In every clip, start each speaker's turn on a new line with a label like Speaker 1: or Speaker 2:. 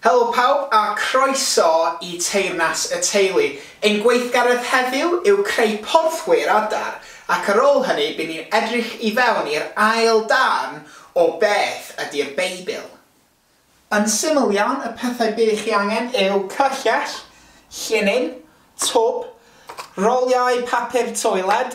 Speaker 1: Helo pawb a croeso i Teyrnas y Teulu. Ein gweithgaredd heddiw yw creu porthwyr adar ac ar ôl hynny by ni'n edrych i fewn i'r ail darn o Beth ydi'r Beibl? Yn syml iawn y pethau bydd chi angen yw cyrchell, llinyn, twb, roliau papur toiled,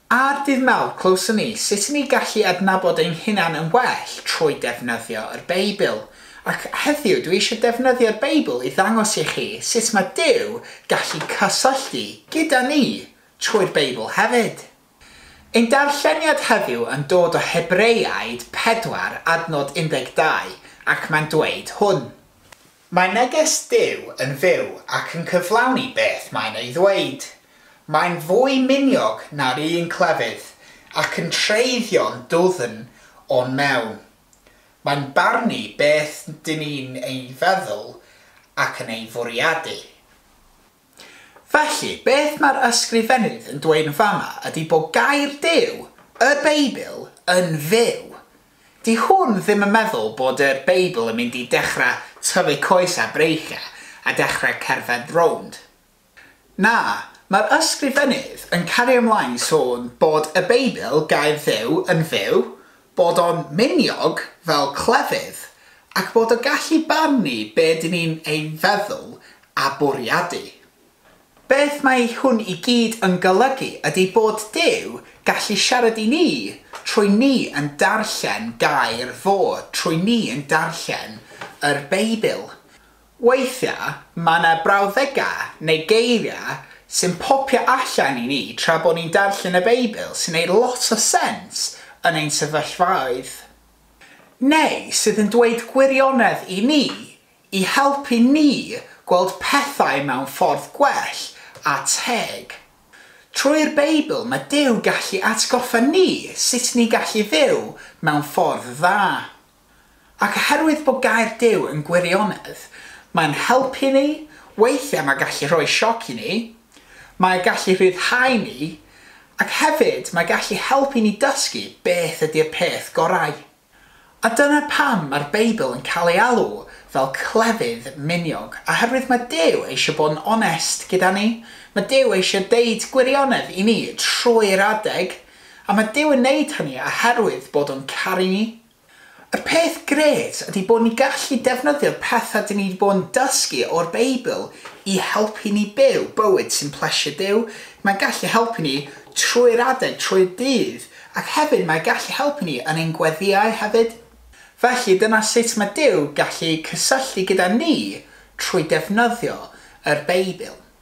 Speaker 1: Ar ddydd Mawrth, clywson ni sut y ni gallu adnabod ein hunan yn well trwy defnyddio yr Beibl. Ac heddiw, dwi eisiau defnyddio'r Beibl i ddangos i chi sut mae Duw gallu cysylltu gyda ni trwy'r Beibl hefyd. Ein darlleniad heddiw yn dod o Hebreaid 4, adnod 12, ac mae'n dweud hwn. Mae neges Duw yn fyw ac yn cyflawni beth mae'n ei ddweud. Mae'n fwy miniog na'r un clefyd, ac yn treiddio'n dwfn o'n mewn. Mae'n barnu beth dŷn ni'n ei feddwl ac yn ei fwriadu. Felly, beth mae'r Ysgrifennydd yn dweud yn fama ydy bod Gair Duw, y Beibl, yn fyw. Dyw hwn ddim yn meddwl bod y Beibl yn mynd i dechrau tyfu coes a breichiau a dechrau cerdded rownd. Na, mae'r Ysgrifennydd yn cario ymlaen i sôn bod y Beibl, Gair Dduw, yn fyw, bod o'n miniog fel clefyd ac bod o gallu barnu be dyn ni'n ei feddwl a bwriadu. Beth mae hwn i gyd yn golygu ydy bod Duw gallu siarad i ni trwy ni yn darllen gair fo, trwy ni yn darllen yr Beibl. Weithiau mae 'na brawddegau neu geiriau sy'n popio allan i ni tra bod ni'n darllen y Beibl sy'n gwneud lot o sens yn ein sefyllfaoedd, neu sydd yn dweud gwirionedd i ni i helpu ni gweld pethau mewn ffordd gwell a teg. Trwy'r Beibl mae Duw gallu atgoffa ni sut ni'n gallu fyw mewn ffordd dda. Ac oherwydd bod Gair Duw yn gwirionedd, mae'n helpu ni, weithiau mae'n gallu rhoi sioc i ni, mae gallu rhyddhau ni, ac hefyd mae gallu helpu ni dysgu beth ydy'r peth gorau. A dyna pam mae'r Beibl yn cael ei alw fel clefyd miniog, oherwydd mae Duw eisiau bod yn onest gyda ni, mae Duw eisiau deud gwirionedd i ni trwy'r adeg, Am y Duw yn wneud hynny oherwydd bod o'n caru ni? Y peth grêt ydy bod ni'n gallu defnyddio'r pethau dyn ni wedi bod yn dysgu o'r Beibl i helpu ni byw bywyd sy'n plesio Duw. Mae'n gallu helpu ni trwy'r adeg, trwy'r dydd, ac hefyd mae'n gallu helpu ni yn ein gweddïau hefyd. Felly, dyna sut mae Duw gallu cysylltu gyda ni, trwy defnyddio yr Beibl.